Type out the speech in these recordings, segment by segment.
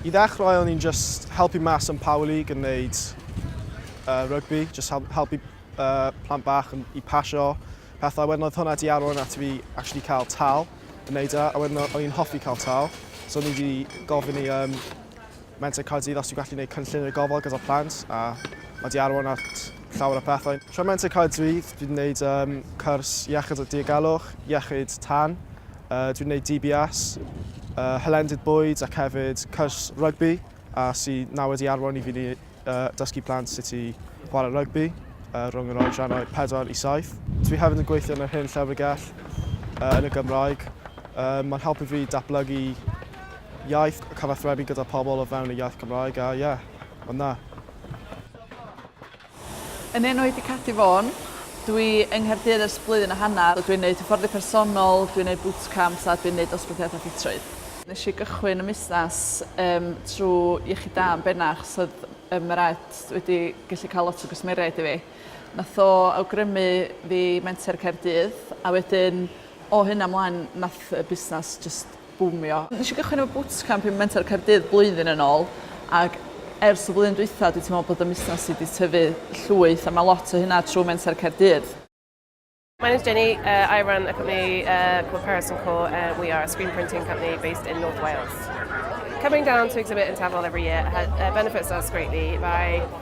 I ddechrau o'n i'n just helpu mas yn Power League yn neud uh, rugby, just help, helpu uh, plant bach yn, i pasio pethau. Wedyn oedd hwnna di arwain at fi actually cael tal yn neud e, a wedyn o'n i'n hoffi cael tal. So o'n i di gofyn i um, Menter Caerdydd os ti'n gallu gwneud cynllun y gofal gyda'r plant, a mae di arwain at llawer o pethau. Tra Menter Caerdydd, fi'n gwneud um, cwrs iechyd o diogelwch, iechyd tan, Yy, dwi'n neud DBS, yy, hylendid bwyd ac hefyd cwrs rygbi a sy nawr wedi arwain i fi ni yy, dysgu plant sut i chwarae rygbi yy, rhwng yr oedrannau 4 i 7. Dwi hefyd yn gweithio yn yr Hen Llyfrgell yy, yn y Gymraeg. Yy, mae'n helpu fi datblygu iaith, cyfathrebu gyda pobl o fewn y iaith Gymraeg a ie, yeah, mae'n dda. Yn enw i di Catti Vaughan. Dwi yng Nghaerdydd ers blwyddyn a hanner, dwi'n neud hyfforddi personol, dwi'n neud bootcamps a dwi'n neud dosbarthiadau ffitrwydd. Nes i gychwyn y musnes yym trw Iechyd Da yn benach so o'dd yy Meraet wedi gellu ca'l lot o gwsmeriaid i fi. Nath o awgrymu fi Menter Caerdydd a wedyn o hynna mlaen nath y busnes jyst bwmio. Nes i gychwyn efo bootcamp i Mentor Caerdydd blwyddyn yn ôl ac ers y flwyddyn dwytha dwi teimlo bod y musnes i 'di tyfu llwyth a ma' lot o hynna trw Mentor Caerdydd. My name's Jenny, uh, I run a company uh, called Paris and Co. Uh, we are a screen printing company based in North Wales. Coming down to exhibit in Tafol every year uh, benefits us greatly by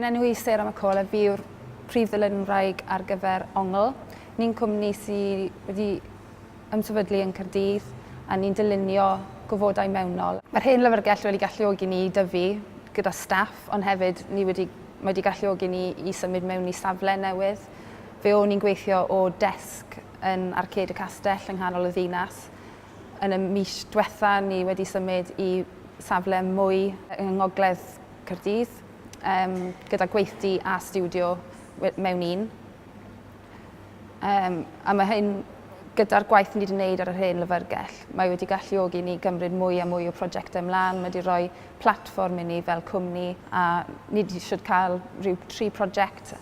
Yn enwi Sarah McCall a fi yw'r prif ddyled yn wraig ar gyfer Ongl. Ni'n cwmni sydd wedi ymsefydlu yn Caerdydd a ni'n dylunio gofodau mewnol. Mae'r hen lyfrgell wedi galluogi ni i dyfu gyda staff ond hefyd ni wedi, mae wedi galluogi ni i symud mewn i safle newydd. Fe o'n i'n gweithio o desg yn Arcêd y Castell yng nghanol y ddinas. Yn y mis diwetha ni wedi symud i safle mwy yng ngogledd Caerdydd, um, gyda gweithdy a studio mewn un. Um, a mae hyn gyda'r gwaith ni wedi gwneud ar yr hen lyfrgell, mae wedi galluogi ni gymryd mwy a mwy o prosiectau ymlaen, mae wedi rhoi platfform i ni fel cwmni a ni wedi eisiau cael rhyw tri prosiect